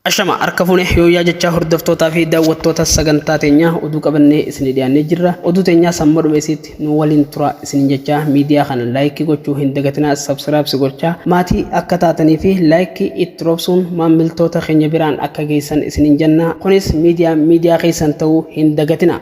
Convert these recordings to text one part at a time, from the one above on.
Ashama harka fuune yooyyaa jechaa hordoftootaa fi daawwattoota sagantaa teenyaa oduu qabannee isinii dhiyaannee jirra. Oduu teenyaa samma dhume isiitti nu waliin turaa isiniin jechaa miidiyaa kana laayikii gochuu hin dagatinaa sabsiraabsi gochaa maatii akka taatanii fi laayikii itti roobsuun maammiltoota keenya biraan akka geessan isiniin janna. Kunis miidiyaan miidiyaa keessan ta'uu hin dagatinaa.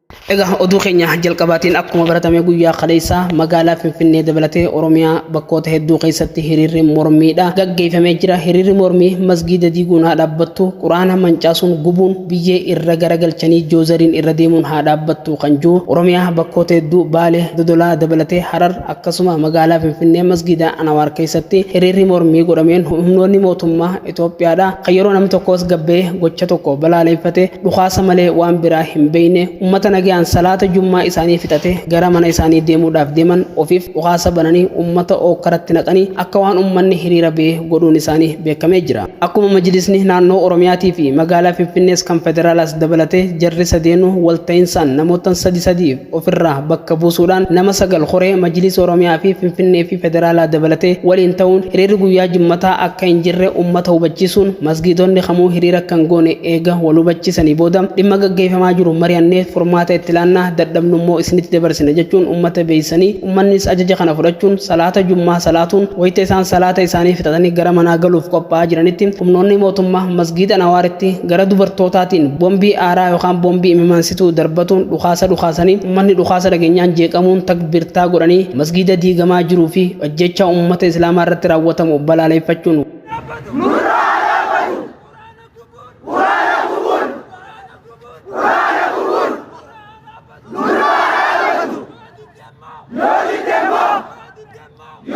Egaa oduu keenya jalqabaatiin akkuma baratame guyyaa kaleessaa magaalaa Finfinnee dabalatee Oromiyaa bakkoota hedduu keessatti hiriirri mormiidha gaggeeffamee jira. Hiriirri mormii masgiida diiguun haa dhaabbattu, quraana mancaasuun gubuun biyyee irra garagalchanii joozariin irra deemuun haa dhaabbattu kan jiru Oromiyaa bakkoota hedduu Baalee, Dodolaa dabalatee Harar akkasuma magaalaa Finfinnee masgiida Anawaar keessatti hiriirri mormii godhameen humnoonni mootummaa Itoophiyaadha kan yeroo namni tokko as gabbee gocha tokko balaaleeffate dhukaasa malee waan biraa hin beeyne ummata nagayaan salaata jummaa isaanii fixate gara mana isaanii deemuudhaaf deeman ofiif dhukaasa bananii ummata ookkaratti naqanii akka waan ummanni hiriira bee godhuun isaanii beekamee jira. Akkuma majlisni naannoo Oromiyaatii fi magaalaa Finfinnees kan federaalaas dabalatee jarri sadeenuu walta'insaan namoottan sadi sadiif ofirraa bakka buusuudhaan nama sagal koree Majliisa Oromiyaa fi Finfinnee fi Federaalaa dabalatee waliin ta'uun hiriirri guyyaa Jimmataa akka hin jirre ummata hubachiisuun masgiidonni kamuu hiriira akka hin goone eega wal hubachiisanii booda dhimma gaggeeffamaa jiru mari'annee furmaata itti laanna dadhabnu immoo isinitti dabarsina jechuun ummata beeksisanii ummannis ajaja kana fudhachuun salaata Jummaa salaatuun wayita isaan salaata isaanii fixatanii gara manaa galuuf qophaa'aa jiranitti humnoonni mootummaa masgiida Anawaaritti gara dubartootaatiin bombii aaraa yookaan bombii imimaansituu darbatuun dhukaasa dhukaasanii ummanni dhukaasa dhageenyaan jeeqamuun takbirtaa godhanii masgiida diigamaa jiruu fi ajjeechaa ummata islaamaa irratti raawwatamu balaaleeffachuun Yo,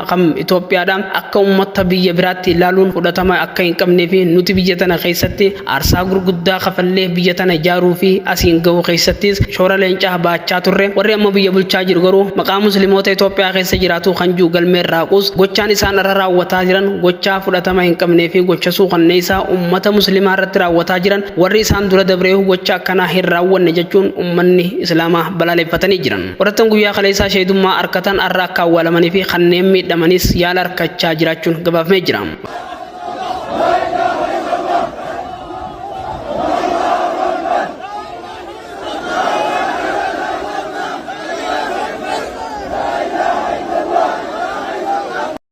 Kam Itoophiyaadha akka uummatta biyya biraatti ilaaluun fudhatama akka hin qabnee fi nuti biyya tana keessatti aarsaa gurguddaa kafallee biyya tana ijaaruu fi asiin ga'uu keessattis shoora leencaa ba'achaa turre warri amma biyya bulchaa jiru garuu maqaa muslimoota Itoophiyaa keessa jiraatuu kan jiru galmee irraa haquus gochaan isaan irra raawwataa jiran gochaa fudhatama hin qabnee fi gocha suukanneessaa uummata muslimaa irratti raawwataa jiran warri isaan dura dabreehu gocha akkanaa hin raawwanne jechuun uummanni islaamaa balaaleffatanii jiran. Qorattoon guyyaa kaleessaa sheedummaa arkatan arra akka awwaalamanii fi kanneen miidhamanis yaala arkachaa jiraachuun gabaafamee jira.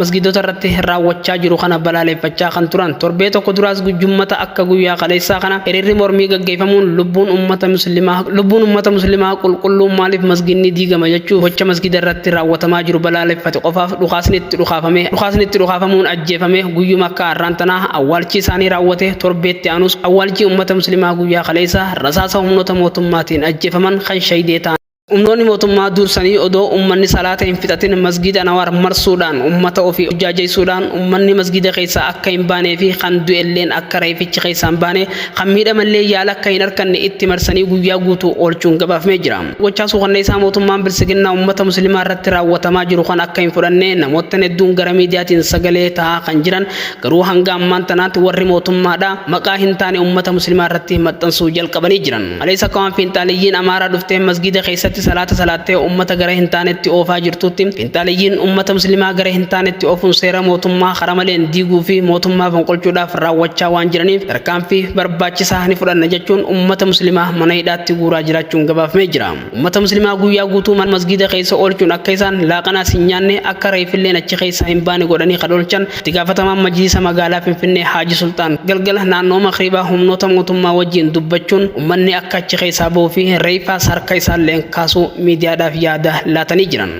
masgiidota irratti raawwachaa jiru kana balaaleffachaa kan turan torbee tokko duraas gujjummata akka guyyaa kaleessaa kana hiriirri mormii gaggeeffamuun lubbuun ummata muslimaa lubbuun ummata muslimaa qulqulluu maaliif masgiinni diigama jechuu gocha masgiida irratti raawwatamaa jiru balaaleffate qofaaf dhukaasni itti dhukaafame dhukaasni itti dhukaafamuun ajjeefame guyyuma akka har'aan tanaa awwaalchi isaanii raawwate torbeetti aanus awwaalchi ummata muslimaa guyyaa kaleessaa rasaasa humnoota mootummaatiin ajjeefaman kan shahidee ta'an Humnoonni mootummaa dursanii odoo ummanni salaata hin fixatin masgiida Anawaar marsuudhaan ummata ofii jaajeessuudhaan ummanni masgiida keessaa akka hin baanee fi kan du'elleen akka reefichi keessaa hin baane kan miidhamallee yaala akka hin arkanne itti marsanii guyyaa guutuu oolchuun gabaafmee jira. Gochaa suukanneessaa mootummaan bilsiginnaa ummata muslimaa irratti raawwatamaa jiru kan akka hin fudhanne namoottan hedduun gara miidiyaatiin sagalee ta'aa kan jiran garuu hanga ammaan tanaatti warri mootummaadha maqaa hin taane ummata muslimaa irratti maxxansuu jalqabanii jiran. Kaleessa akka waan finxaaliyyiin Amaaraa dhuftee masgiida keessatti salaata salaattee uummata gara hin taanetti oofaa jirtuutti finxaaliyyiin uummata muslimaa gara hin taanetti oofuun seera mootummaa karaa maleen diiguu fi mootummaa fonqolchuudhaaf raawwachaa waan jiraniif tarkaanfii barbaachisaa ni fudhanna jechuun uummata muslimaa mana hidhaatti guuraa jiraachuun gabaafamee jira. Uummata muslimaa guyyaa guutuu mana masgiida keessa oolchuun akka isaan laaqanaas hin nyaanne akka reeffilleen achi keessaa hin baane godhanii kan oolchan Itti gaafatamaan Majliisa Magaalaa Finfinnee Haaji Sulxaan galgala naannoo Makriibaa humnoota mootummaa wajjiin dubbachuun ummanni akka achi keessaa bahuu fi reeyfaas harka isaalleen kaasuu miidiyaadhaaf yaada laatanii jiran.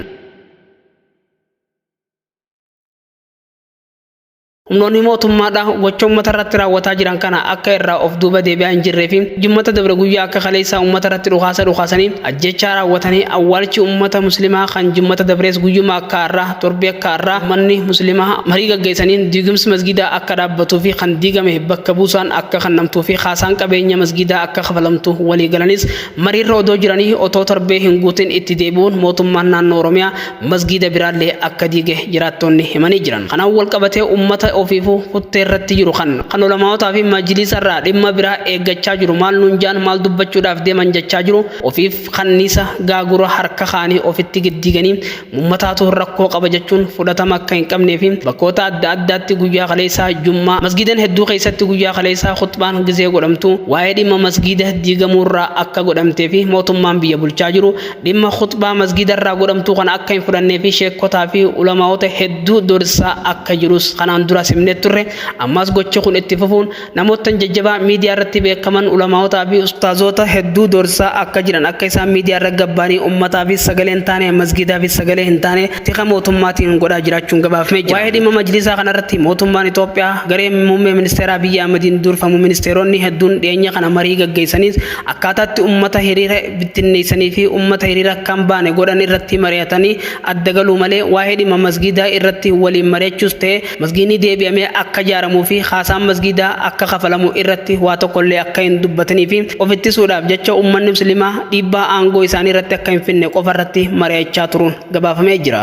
Humnoonni mootummaadhaa gocha uummata irratti raawwataa jiran kana akka irraa of duuba deebi'aa hin jirree fi jimmata dabre guyyaa akka kaleessaa uummata irratti dhukaasa dhukaasanii ajjechaa raawwatanii awwaalchi uummata muslimaa kan jimmata dabrees guyyuma akka har'aa Torbee akka har'aa uummanni muslimaa marii gaggeessaniin diigumsi masgiidaa akka dhaabbatuu fi kan diigame bakka buusaan akka kennamtuu fi kaasaan qabeenya masgiidaa akka kafalamtu walii galanis mariirra odoo jiranii otoo torbee hin guutin itti deebi'uun mootummaan naannoo Oromiyaa masgiida biraallee akka diige jiraattoonni himanii jiran. Kanaan wal qabatee uummata ofiifuu kuttee irratti jiru kan kan ulamaa'otaa fi majliisa irraa dhimma biraa eeggachaa jiru maal nuun ja'an maal dubbachuudhaaf deeman jechaa jiru ofiif kanniisa gaagura harka kaa'anii ofitti giddiiganii Ummataatu rakkoo qaba jechuun fudhatama akka hin qabnee fi bakkoota adda addaatti guyyaa kaleessaa Jummaa masgiidan hedduu keessatti guyyaa kaleessaa khuxbaan gizee godhamtu waa'ee dhimma masgiida diigamuurraa akka godhamtee fi mootummaan biyya bulchaa jiru dhimma khuxbaa masgiidarraa godhamtuu kana akka hin fudhannee fi sheekkotaa fi ulamaa'ota hedduu doorsisaa akka jirus kanaan duras himnee turre ammaas gochi kun itti fufuun Namoottan jajjabaa miidiyaa irratti beekaman ulamaa'otaa fi ustaazoota hedduu doorsisaa akka jiran akka isaan miidiyaa irra gabbaanii ummataafis sagalee hin taane masgiidaafis sagalee hin taane tika mootummaatiin godhaa jiraachuun gabaafmee jira. Waa'ee dhimma majliisaa kana irratti mootummaan Itoophiyaa garee muummee ministeeraa Abiyyi Ahmadiin duurfamu ministeeroonni hedduun dhiyeenya kana marii gaggeessaniis akkaataatti ummata hiriira bittinneessanii fi ummata hiriira akka hin baane godhan irratti mari'atanii adda galuu malee waa'ee dhimma masgiidaa irratti waliin mari'achuus ta'e Masgiidni deebi'amee akka ijaaramuu fi haasaan masgiidaa akka kafalamu irratti waa tokkollee akka hin dubbatanii fi of ittisuudhaaf jecha uummanni musliimaa dhiibbaa aangoo isaanii irratti akka hin finne qofa irratti mari'achaa turuun gabaafamee jira.